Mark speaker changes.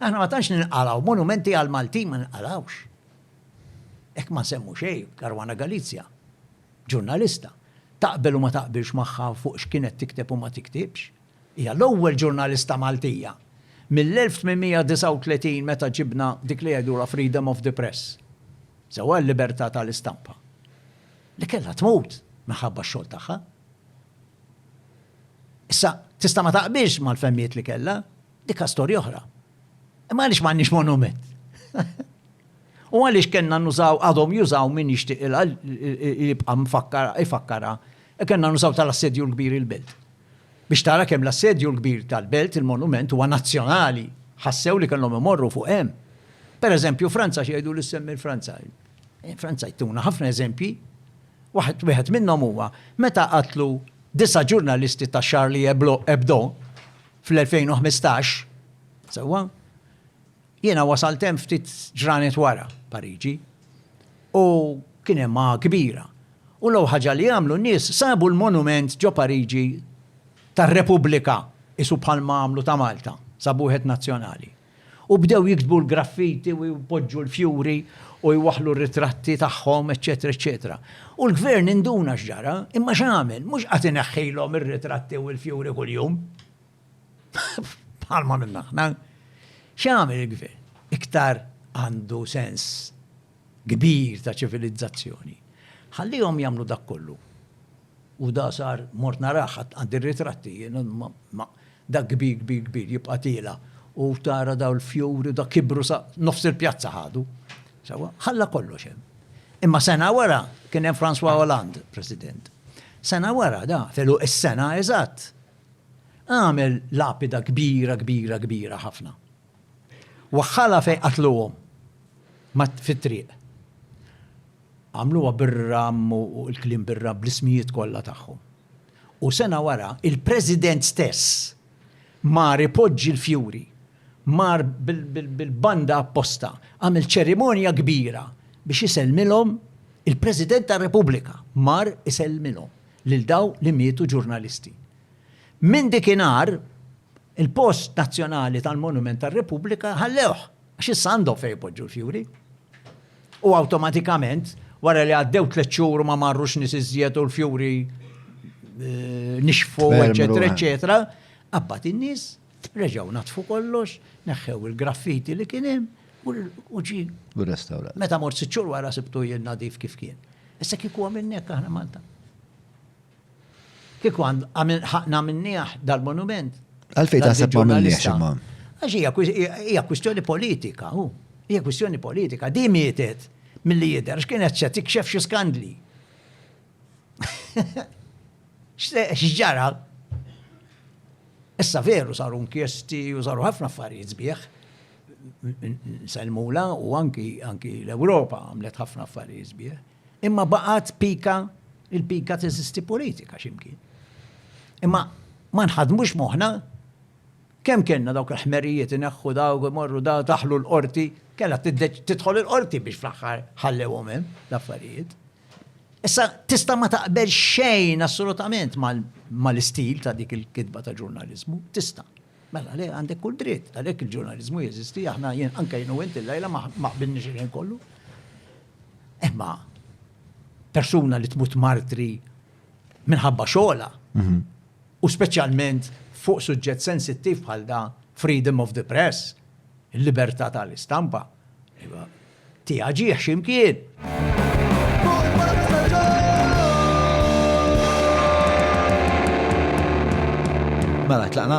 Speaker 1: Aħna ma tantx ninqalgħu, monumenti għall-Maltin ma ninqalgħux. Hekk ma nsemmu xejn, Caruana Galizia, ġurnalista, taqbel u ma taqbilx magħha fuq x'kienet tikteb u ma tiktibx, hija l-ewwel ġurnalista Maltija mill-1839 meta ġibna dik li jgħidulha freedom of the press, sewwa l-libertà tal-istampa, li kellha tmut minħabba x-xogħol tagħha. Issa, tista' ma taqbilx mal-fehmiet li kellha, Dikha storja oħra. Imma għaliex m'għandniex monument? U għaliex kellna nużaw, għadhom jużaw min jixtieq jibqa' mfakkar ifakkara, e kellna nużaw tal-assedju l-kbir il-belt. Biex tara kemm l-assedju l-kbir tal-belt il-monument huwa nazzjonali, ħassew li kellhom imorru fuq hemm. Per eżempju Franza x'jgħidu li semmi l-Franza. Eh, Franza jtuna ħafna eżempji. Waħed wieħed minnhom huwa meta qatlu disa' ġurnalisti ta' Charlie Hebdo Fl-2015, sewwa, jiena wasalt hemm ftit ġranet wara, Pariġi, u kien hemm għagħa kbira. U l-ewwel ħaġa li għamlu n-nies sabu l-monument ġo Pariġi tar-Repubblika, qisu bħalma għamlu ta' Malta, sabu wieħed nazzjonali. U bdew jiktbu l-graffiti u jpoġġu l-fjuri u jwaħħlu r-ritratti tagħhom, eċċetera, eċċetera. U l-gvern induna x'ġara, imma x'għamel? Mhux qagħad ineħħilhom ir-ritratti u l-fjuri kuljum. Bħalma għamilna aħna. X'għamel il-gvern? Iktar għandu sens kbir ta' ċivilizzazzjoni. Ħallihom jagħmlu dak kollu. U da sar mort naraħ għad ir-ritratti, ma Dak kbir kbir kbir jibqa' tiela' u tara dawn il-fjuri u dak kibru sa nofs il-pjazza ħadu. Sewwa? Ħalla kollox hemm. Imma sena wara kien hemm François Hollande President. Sena wara da, f'għeluq is-sena eżatt, għamel lapida kbira kbira kbira ħafna. Waħħalha fejn qatluhom fit-triq. Għamluha bir-ramm u l-kliem bir-ramm bl-ismijiet kollha tagħhom. U sena wara, il-President stess mar ipoġġi l-fjuri, mar bil-banda apposta, għamel ċerimonja kbira biex isellmilhom, il-President tar-Repubblika mar isellmilhom lil dawn li mietu ġurnalisti. Minn dikinhar, Il-post nazzjonali tal-Monument tar-Repubblika ħallewh għax issa għandhom fejn ipoġġu l-fjuri. U awtomatikament, wara li għaddew tliet xhur u ma marrux nies iżjed u l-fjuri eh, nixfu, eċetera, eċetera, qabad in-nies reġgħu natfu kollox, neħħew il-graffiti li kien hemm u ġi. U restawra. Meta
Speaker 2: mort siċċur wara
Speaker 1: sibtu jien nadif kif kien. Issa kieku għamilnek aħna Malta. Kieku għamilnieh dal-monument. Għalfejn taħseb ma
Speaker 2: għamilniehx imma? Għax
Speaker 1: hija kwistjoni politika, hu. Hija kwistjoni politika. Din mietet milli jidher għax kienet se tikxef xi skandli. X'ġara? Issa veru saru inkjesti u saru ħafna affarijiet sbieħ. Selmula u anki l-Ewropa għamlet ħafna affarijiet sbieħ. Imma baqgħet pika, il-pika teżisti politika x'imkien. Imma ma nħadmux moħħna kemm kellna dawk il-ħmerijiet ineħħu dawk imorru da taħlu l-qorti, kellha tidħol il-qorti biex fl-aħħar ħallewhom hemm l-affarijiet. Issa tista' ma taqbel xejn assolutament mal-istil ta' dik il-kitba ta' ġurnaliżmu, tista'. Mela le, għandek kull dritt, għalhekk il-ġurnaliżmu jeżisti, aħna jien anke jien u int illejla ma qbilniex il-ħin kollu. Imma persuna li tmut martri minħabba xogħla mhm. u speċjalment fuq suġġett sensittiv bħal da freedom of the press, il-libertà tal-istampa. Tiha ġieħ x'imkien!
Speaker 2: Mela tlaqna?